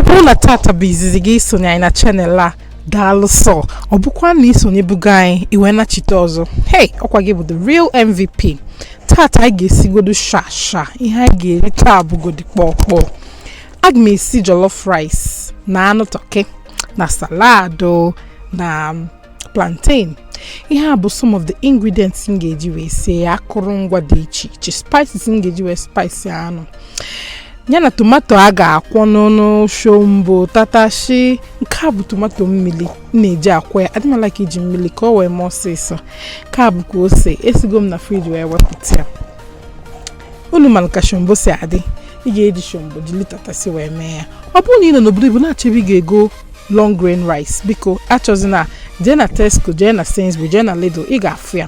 bụrụ na tata bụ izizi gị isonye anyị na channel a daalụ sọ ọ bụkwa na isonyebugo anyị i wee nachite ọzọ hey ọkwa gị bụ the real mvp tata anyị ga-esigodo shasha ihe anyị ga-eri taa bụgodi kpọọ kpọọ aga m esi jollof rice na anụ tọkị na salad o na plantain ihe a bụ some of the ingredients m ga-eji wee sie ya akụrụngwa dị iche iche spices m ga-eji wee spice anụ ya na tomato a ga-akwọ n'ọnụ shombo tatashi nke a bụ tomato mmiri m na-eji akwọ ya adị m a-like iji mmiri ka ọ wee mee ọsịsọ nke a bụkwa ose esigo m na fridge wee wepụta ya unu mara ka shombo si adị ị ga-eji shombo jiri tatasi wee mee ya ọ bụrụ na ị nọ n'obodo oyibo na-achọ ebe ị ga-ego long grain rice biko achọzina jee na tesco jee na sainsbury jee na lidl ị ga-afụ ya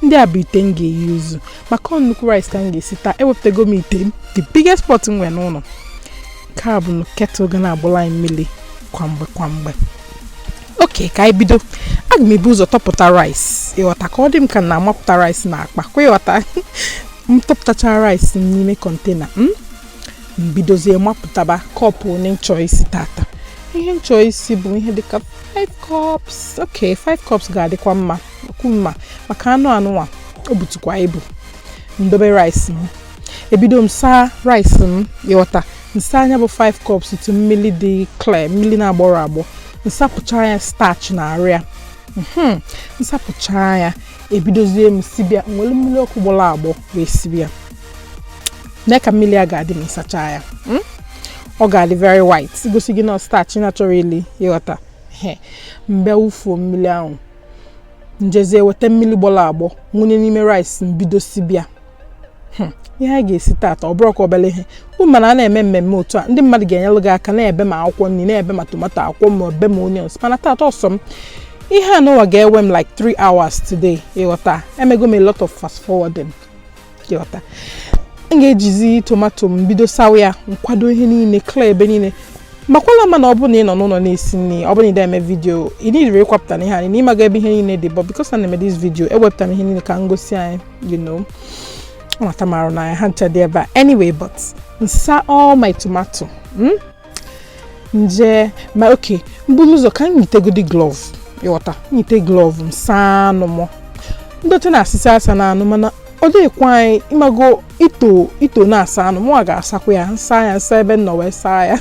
ndị a bụ ite m ga e-use maka ọ nnukwu rice ka m ga-esi taa ewepụtago m ite m the biggest pot m nwere n'ụlọ nke a bụ kettle ga na-agbụla anyị mmiri kwa mgbe kwa mgbe okay ka anyị bido aga m ebu ụzọ tọpụta rice ịghọta ka ọ dị m ka na-amapụta rice na akpa kwa ịghọta m tọpụtachara rice n'ime container m hmm? m bidozie mapụtaba kọpụ one m chọ isi tata ihe m chọ isi bụ ihe dịka 5 cups ok 5 cups ga-adịkwa mma okwu mma maka anụ anụnwa o butukwa ibu m dobe rice m ebido m saa rice m ịghọta m saa nya bụ 5 cups tu mmiri dị clear mmiri na-agbọrọ agbọ m sapụcha ya starch na arụ ya hmm, m sapụcha ya ebidozie m sibe ya m were mmiri ọkụ gbọrọ agbọ wee sibe ya nee ka mmiri a ga-adị m sacha ya hmm? ọ ga-adị very white gosi gị na starch naturally ịghọta mgbe wufuo mmiri ahụ m jezie weta mmiri gbọrọ agbọ m wunye n'ime rice m bido sibe ya hmm. ihe a ga-esi taata ọ bụrọkwa obere ihe ị ma na a na-eme mmemme otu a ndị mmadụ ga-enyelụ gị aka na-ebe ma akwụkwọ nri na-ebe ma tomato akwụkwọ ma ebe ma onions mana taata ọ sọ m ihe a nụnwa ga-ewe m like 3 hours today ịghọta emego m a lot of fast forwarding ịghọta m ga-ejizi tomato m bido sawa ya m kwado ihe niile clear ebe niile makwala ma na ọ bụrụ na ị nọ n'ụlọ na-esi nri ọ bụrọ na ị na-eme video ị needirọ ịkwapụta na ihe anyị n'ị mago ebe ihe niile dị but because na na-eme this video ewepụta m ihe niile ka m gosi anyị you know nwata marụ na ha ncha dị ebe a anyway but m saa all my tomato hmm? nje ma okay mbulu ụzọ ka m yitegodi glove ịghọta nyite glove m saa anụ m ndọtị na-asị sị asana anụ mana ọ dịkwa anyị ịmago ito ito na-asa anụ mụnwa ga-asakwa ya nsa ya nsa ebe m nọ wee saa ya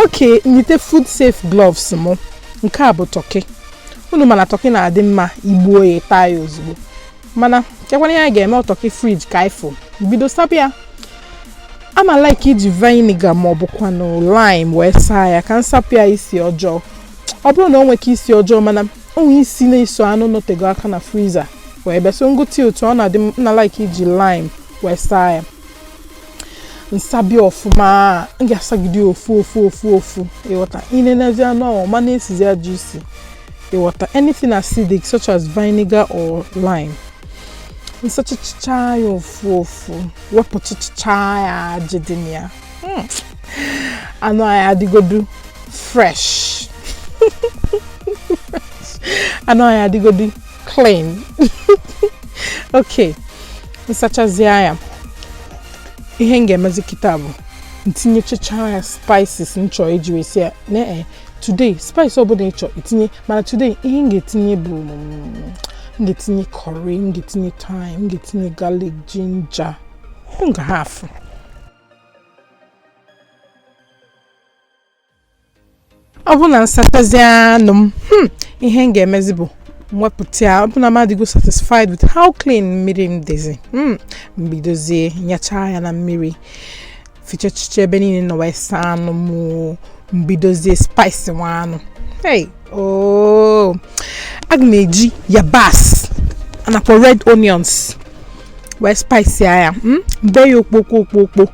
okay nyite food safe gloves m nke a bụ turkey unu ma na turkey na-adị mma igbuo ya taa ya ozugbo mana chekwana ya ga-eme turkey fridge ka ifo bido saba ya ana m like iji vinegar ma ọ bụkwanụ lime wee saa ya ka m sapụ ya isi ọjọọ ọ bụrụ na o nweke isi ọjọọ mana o nwe isi na-eso anụ nọtego aka na freezer wee bịa so ịghọta otu ọ na-adị m na like iji lime wee saa ya nsabi ọfụma m ga-asagide ofu ofu ofu ofu ịghọta inenezi anụ ahụ ma na-esizi ajọ isi ịghọta anything acidic such as vinegar or lime nsachacha ya ofu ofu wepụchichaa ya ajị dị na ya hmm. anụ anyị adịgodu fresh anụ anyị adịgodu clean ok nsachazie ya ihe m ga-emezi kịta bụ ntinyechacha ya spices m chọọ iji wee sie ya today spice ọbụla ị chọ itinye mana today ihe m ga-etinye bụ mm, m ga-etinye curry m ga-etinye thyme m ga-etinye garlic ginger m ga-ahafụ ọ bụ na nsachazi anụ m hmm, ihe m ga-emezi bụ mwepụta ya ọ bụ na m adịgo satisfied with how clean mmiri m dịzi hmm, mbidozie nyachaa ya na mmiri fichachicha ebe niile m nọ wee saa anụ m mbidozie spice nwa anụ hey ooo oh. aga m eji yabasị anakwa red onions wee spice ya ya hmm? mbe ya okpokpo okpokpo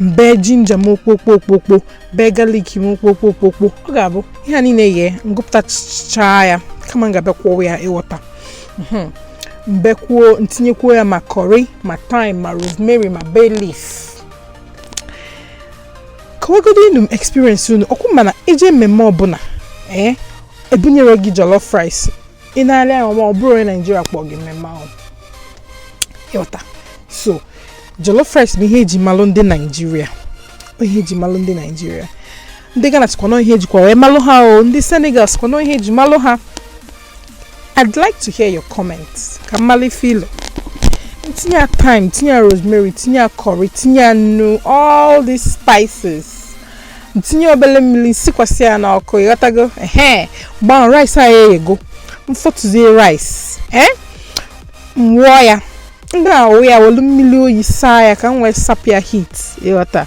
mbe ginger m okpokpo okpokpo mbe garlic m okpokpo okpokpo ọ ga-abụ ihe a niile yee ngụpụtachaa ya kama m ga-abịa kwọọ ya ịghọta hmm. mbekwuo ntinyekwuo ya ma curry ma thyme ma rosemary ma bay leaf kọwagodi nụ experience unu ọ kwa unu ma na ije mmemme ọbụla ee eh, ebunyere gị jollof rice ị na-eri ya ma ọ bụrụ onye Nigeria kpọọ gị mmemme ahụ ịghọta so jollof rice bụ ihe eji malụ ndị Nigeria ihe eji malụ ndị Nigeria ndị Ghana sịkwa na ọ ihe ejikwa wee malụ ha o ndị Senegal sịkwa na ọ ihe eji malụ ha I'd like to hear your comments ka m malụ filo tinye ya thyme tinye ya rosemary tinye ya curry tinye ya nnu all these spices tinye obele mmiri sikwasị ya n'ọkụ ịghọtago ehe gbaa rice a eghego mfọtụzie rice ee mwụọ ya ndị na-awụ ya welu mmiri oyi saa ya ka m wee sapụ ya heat ịghọta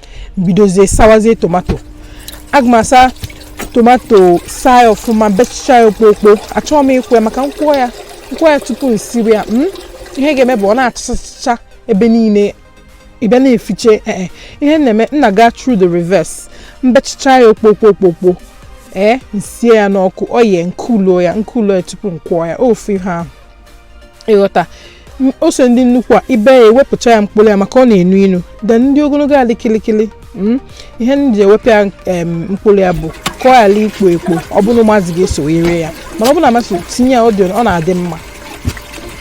m bidozie sawazie tomato aga m asa tomato saa ya ọfụma bechicha ya okpokpo achọghị m ịkwọ ya maka m kwọọ ya tupu m siwe ya hmm? ihe ga-eme bụ ọ na-achachacha ebe niile ị bịa na-efiche ee eh, eh. ihe m na-eme m na-aga through the reverse m bechicha ya okpokpo ee eh, m sie ya n'ọkụ o yee m kuluo ya tupu m kwọọ ya ofu ihe ahụ ị ghọta ose ndị nnukwu a i bee ya ewepụcha ya mkpụrụ ya maka ọ na-enu inu then ndị ogologo a dị kịlịkịlị hmm? ihe m ji ewepụ ya mkpụrụ ya bụ ka ọ ghara ikpo ekpo ọ bụrụ ụmụazị ga-eso eri ya mana ọ bụrụ na ọ masị ị tinye ya ọ na-adị mma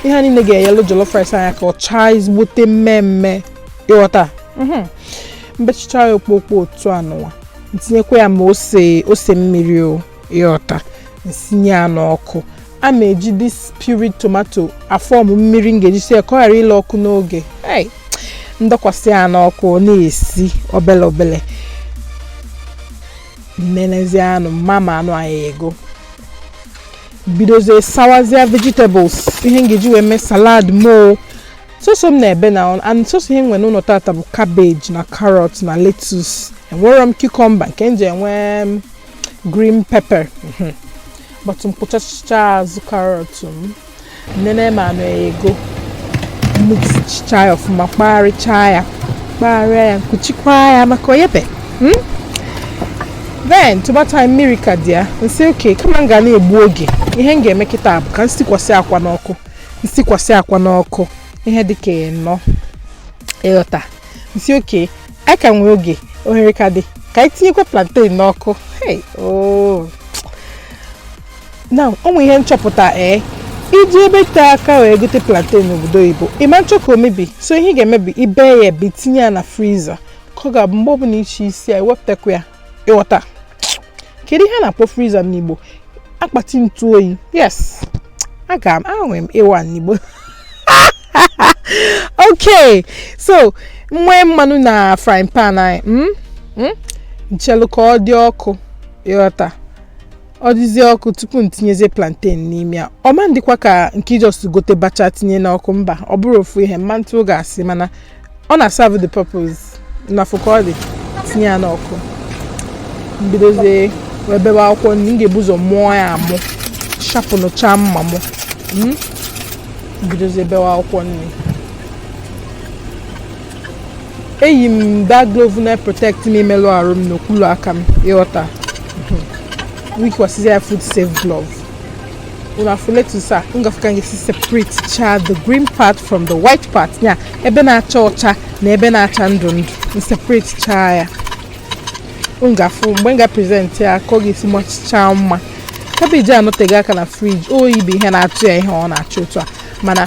ihe niile ga-enyelu jollof rice anyị aka ọ chaa ezigbote mmee mmee ị ghọta mhm. m bechicha ya okpokpo otu anụwa m tinyekwa ya ma ose mmiri o ị ghọta m sinye ya n'ọkụ a ma eji this pureed tomato a-form mmiri m ga-eji sie ka ọ ghara ile ọkụ n'oge m dọkwasị ya n'ọkụ ọ na-esi obele obele nenezi anụ m ma ma anụ anyị eyego bidozie sawazie vegetables ihe m ga-eji wee mee salad mụ o sọsọ m na-ebe na and sọsọ ihe m nwere n'ụlọ tata bụ cabbage na carrot na lettuce enwerọ m cucumber nke m ji enwe green pepper mhm. but m kpụchachicha azụ carrot m nene ma anụ eyego mixchicha ya ọfụma kpagharịcha ya kpagharịa ya m kwuchikwa ya maka o yebe hmm? then tomato anyị mmiri ka dị ya m sị okay kama m ga na-egbu oge ihe m ga-eme kịta bụ ka m sikwasị akwa n'ọkụ m sikwasị akwa n'ọkụ ihe dị ka ịnọ ị ghọta m sị okay a ka nwee oge ohere ka dị ka anyị tinyekwa plantain n'ọkụ now o nwe ihe m chọpụta ee i jee ebe tee aka wee gote plantain n'obodo oyibo ị ma nchọ ka o mebi so ihe ị ga-eme bụ i bee ya ebee i tinye ya na freezer ka ọ ga-abụ mgbe ọbụla ị chọ isi ya i wepụtakwa ya ị ghọta kedu ihe a na-akpọ freezer n'igbo akpati ntụ oyi yes enwere m A one n'igbo okay so nwee mmanụ na frying pan anyị hmm? Hmm? m chelu ka ọ dị ọkụ ị ghọta ọ dịzie ọkụ tupu m tinyezie plantain n'ime ya ọ ma ndịkwa ka nke ị just gote bacha tinye n'ọkụ mba ọ bụrọ ofu ihe m ma ntụ gị asị mana ọ na-serve the purpose na fụkọdị tinye ya n'ọkụ m bidozie wee bebe akwụkwọ nri m ga-ebu ụzọ mụọ ya amụ sharpenchaa mma mụ hmm? bidozie bewe akwụkwọ nri eyi m that glove na-protect m imelụ arụ m n'okpuru aka m ị ghọta hmm. yikwasịzi ya food safe glove unu afụ lettuce a unu ga-afụ ka m ga-esi separate cha the green part from the white part ya ebe na-acha ọcha na ebe na-acha ndụ ndụ m separate cha ya unu ga-afụ mgbe m ga present ya ka ọ ga-esi machichaa mma cabbage anọtego aka na fridge oyi bụ ihe na-atụ ya ihe ọ na-acha otu a mana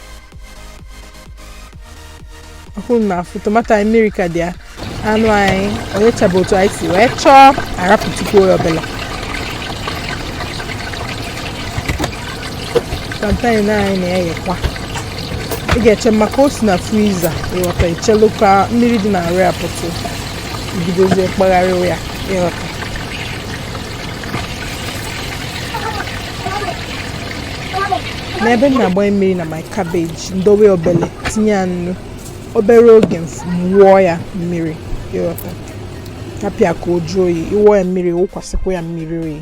unu na-afụ tomato anyị mmiri ka dị ya anụ anyị o yechabe otu anyị si wee chọọ arapụtukwuo ya obele plantain anyị na-eyekwa ị ga-eche maka o si na freezer ịghọta i chelu ka mmiri dị na nri apụtụ i bidozie kpagharịwa ya ịghọta n'ebe m na-agbanye mmiri na my cabbage m dowe obele tinye ya nnu obere oge m wụọ ya mmiri ịghọta rapụ ya ka ọ jụọ oyi ị wụọ ya mmiri wụkwasịkwa ya mmiri oyi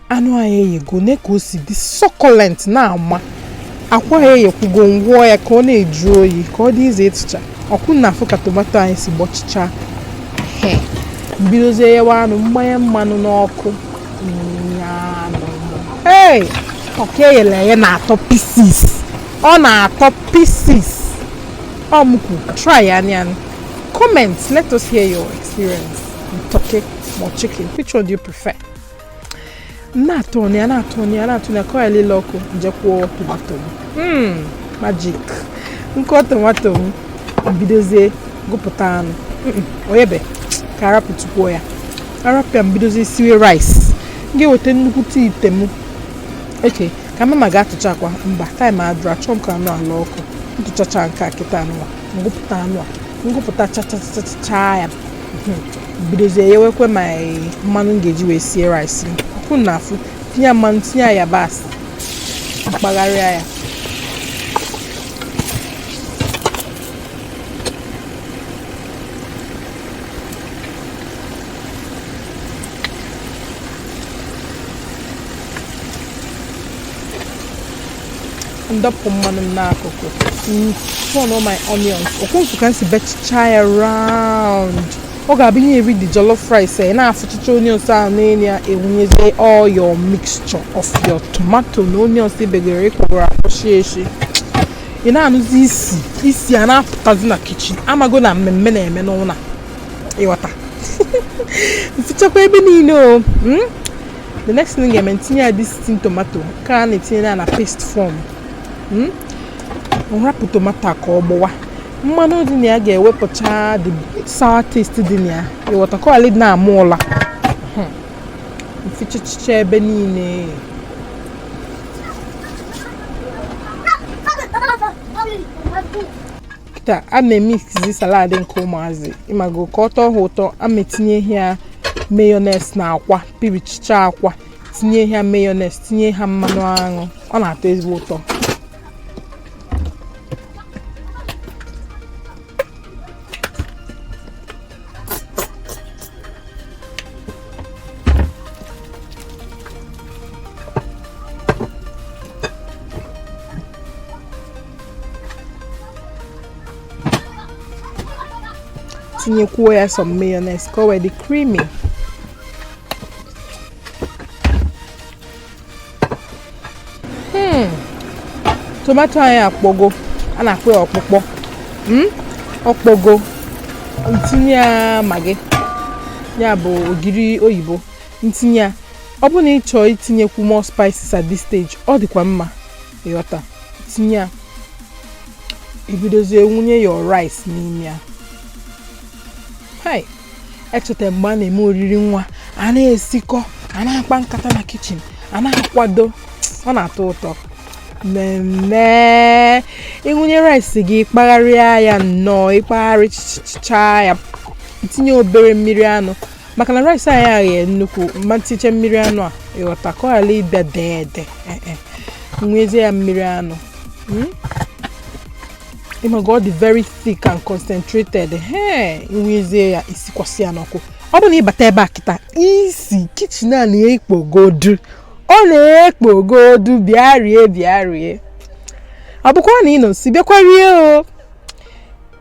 anụ anyị eyego ne ka o si dị succulent na-ama akwa ya eyekwugo m gụọ ya ka ọ na-ajụ oyi ka ọ dị easy ịtụcha ọkwa unu na-afụ ka tomato anyị si gbọchịcha m bidozie yewa anụ m gbanye mmanụ n'ọkụ ee turkey eyere eye na-atọ pieces ọ na-atọ pieces ọ m kwu try nụ ya comment let us hear your experience turkey or chicken which one do you prefer na-aturn ya na-aturn ya na-aturn ya ka ọ elele ọkụ m jekwuo tomato m hmm, magic nkọ tomato m bidozie gụpụta anụ o yebe ka arapụtukwuo ya arapụ ya m bidozie siwe rice m ga-eweta nnukwute ite m okay ka mama ga-atụcha akwa mba time adịrọ achọ m ka anụ a laa ọkụ m tụchacha nke a kịta anụ a m gụpụta anụ a m gụpụta chachachacha ya hmm. bidozie yewekwe my mmanụ m ga-eji wee sie rice m ọkwa unu na-afụ tinye mmanụ tinye ya yabasị m kpagharịa ya m dọpụ mmanụ m n'akụkụ turn all my onions ọkwa unu fụ ka m si bechicha ya round ọ ga-abụ ị ya-eri the jollof rice ị na-afụchicha onions ahụ n'enu ya ewunyezie all your mixture of your tomato na onions i begoro ị kwọgoro akwọ sie esi ị na-anụzi isi isi a na-apụtazi na kitchen amago na mmemme na-eme n'ụlọ ị ghọta m fichakwa ebe niile o hmm? the next thing ga-eme m tinye ya this tin tomato ka a na-etinye ya na paste form hmm? m rapụ tomato ka ọ gbọwa mmanụ dị na ya ga-ewepụcha the sour taste dị na ya ị ghọta ka ọlị na-amụ ụla hmm. m fichachicha ebe niile taa a na-emezi salad nke ụmụazị ị mago ka ọ tọọ ha ụtọ a m etinye ihe a mayonnaise na akwa pịrịchịcha akwa tinye ha mayonnaise tinye ha mmanụ aṅụ ọ na-atọ ezigbo ụtọ tinyekwuo ya some mayonnaise ka o wee dị creamy hmm. tomato anyị akpọgo a na-akpọ ya ọkpụkpọ hmm? ọ kpọgo m tinye ya maggi ya bụ ogiri oyibo m tinye ya ọ bụ na ị chọọ itinyekwu more spices at this stage ọ dịkwa mma ị ghọta tinye ya i bidozie wụnye your rice n'ime ya hai echeta m mgbe a na-eme oriri nwa a na-esikọ a na-akpa nkata na kitchen a na-akwado ọ na-atọ ụtọ mmemme ị wụnye rice gị kpagharịa ya nnọọ ị kpagharịcha ya tinye obere mmiri anụ maka na rice anyị aghee nnukwu mma ntiche mmiri anụ a ị ghọta ka ọ ghara ịbịa dee ede eh, eh. m wezie ya mmiri anụ hmm? ị mago ọ dị very thick and concentrated he m wezie ya sikwasị ya n'ọkụ ọ bụ na ị bata ebe a kịta isi kitchen a na-ekpogodu ọ na-ekpogodu bịa rie bịa rie ọ bụkwa na ị nọ nso bịakwa rie o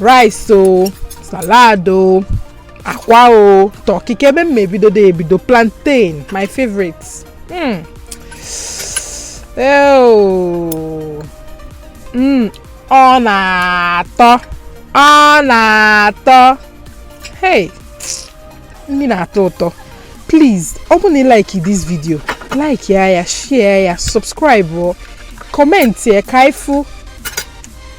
rice o salad o akwa o turkey kee ebe m ebido da ebido plantain my favorite mm. oh. mm. ọ na-atọ ọ na-atọ hey nri na-atọ ụtọ please ọ bụ na ị like this video like ya share ya subscribe or comment ya ka ifu